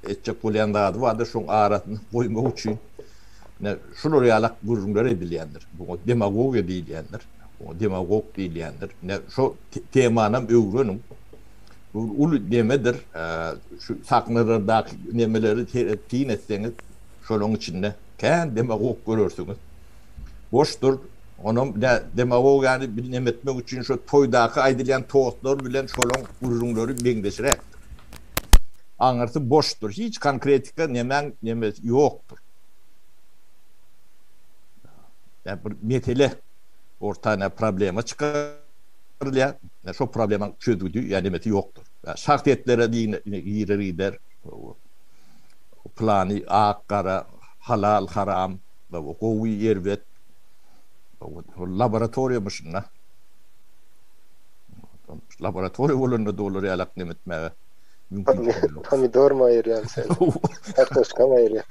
etjek bolýan zady bardyr, şoň arasyna goýmak üçin ine şular ýalak gürrüňler edilýändir. Buňa demagogiýa diýilýändir. Buňa demagog diýilýändir. Ine şo temanam öwreniň. Bu bir uly nemedir. Şu sahnalardaky nemeleri seredip syn etseňiz, şolaň içinde kän demagog görersiňiz. Boşdur. Onam nä demagogiýany bir neme etmek üçin şo toýdaky aýdylýan tostlar bilen şolaň gürrüňleri meňzeşräkdir. Aňyrsy boşdur. Hiç konkretika nemäň nemesi ýokdur. Ýa bir mesele orta nä problema çykarylýar. Nä şo problemaň çözgüdi ýa nemesi ýokdur. Ýa şahsyýetlere diýne girer gider. Pylany ak gara, halal haram. Baba gowy erbet. Ol laboratoriýa myşynda. Laboratoriýa bolanda da olar ýalak nem etmäge mümkinçilik ýok. Pomidorymy aýyrýam sen. Kartoşkamy aýyrýam.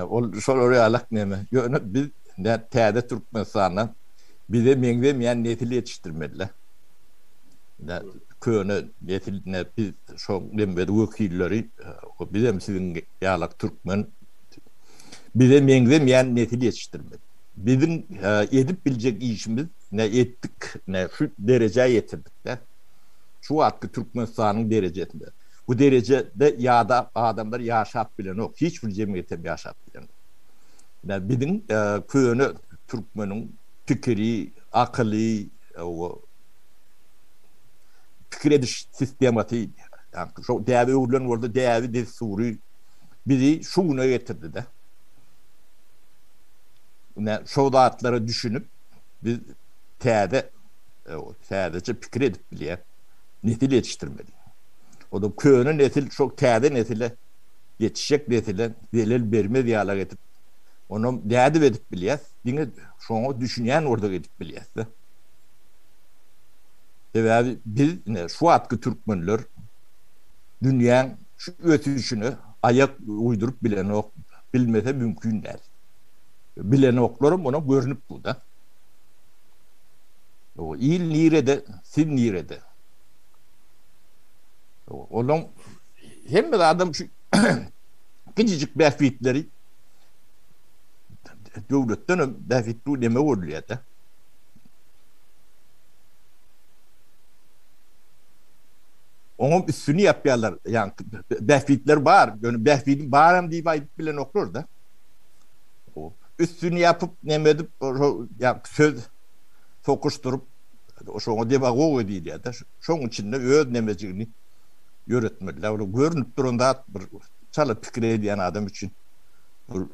Ol şolar ýalak neme. Ýöne biz täze Türkmenistanda bize meňzemeýän nesil ýetişdirmeliler. Köne nesil biz şoň wekilleri. Bizem siziň ýalak türkmen. Bize meňzemeýän nesil ýetişdirmeli. Biziň edip biljek işimiz ne etdik, ne şu derejä ýetirdik däl. Şu wagtky Türkmenistanyň derejesinde. Bu derejede ýada adamlar ýaşap bilenok, hiç bir jemgyýetem ýaşap bilenok. Ine, biziň köne türkmeniň pikiri, akyly, o pikir ediş sistemasy, ýa-da şo däbe öwrülen bolsa däbi-dessury, bizi şu güne getirdi-de. Ine, şo zatlara düşünip, biz täze, täzeçe pikir edip bilýän nesil ýetişdirmeli. Ondan köne nesil şo täze nesile, ýetişjek nesile zelel bermez ýalak edip, onam nädip edip bilýäs, diňe şoňa düşünýän bolsak edip bilýäs-de. Sebäbi biz, ine, şu wagtky türkmenler dünýäň, Şu ösüşine aýak uýduryp bilenok, bilmese mümkin däl. Bilenoklaram onuň görnüp dur-da. Il nirede, siz nirede? Onuň hemme zadam şu kiçijik bähbitleri döwletdenem bähbitli neme görülýär-de. Oňam üstüni ýapýarlar. Ýaňky bähbitler bar. Ýöne bähbidim baram diýip aýdyp bilenoklar-da. Üstüni ýapyp, neme edip, ýaňky söz sokuşdyryp, şoňa demagogiýa diýilýär-de. Şoň içinde öz nemejigini ýöretmelidir. Ol görnüp duran zat bir çala pikir edýän adam üçin bu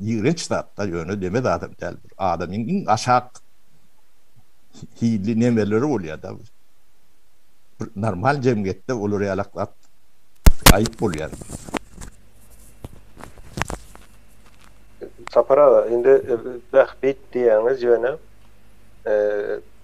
ýigrenç zat-da, ýöne neme zadam däl. Bir adamyň iň aşak hilli nemeleri bolýar-da. Bir normal jemgyýetde olar ýalak zat aýyp bolýar. Sapar aga indi bähbit diýýäňiz ýöne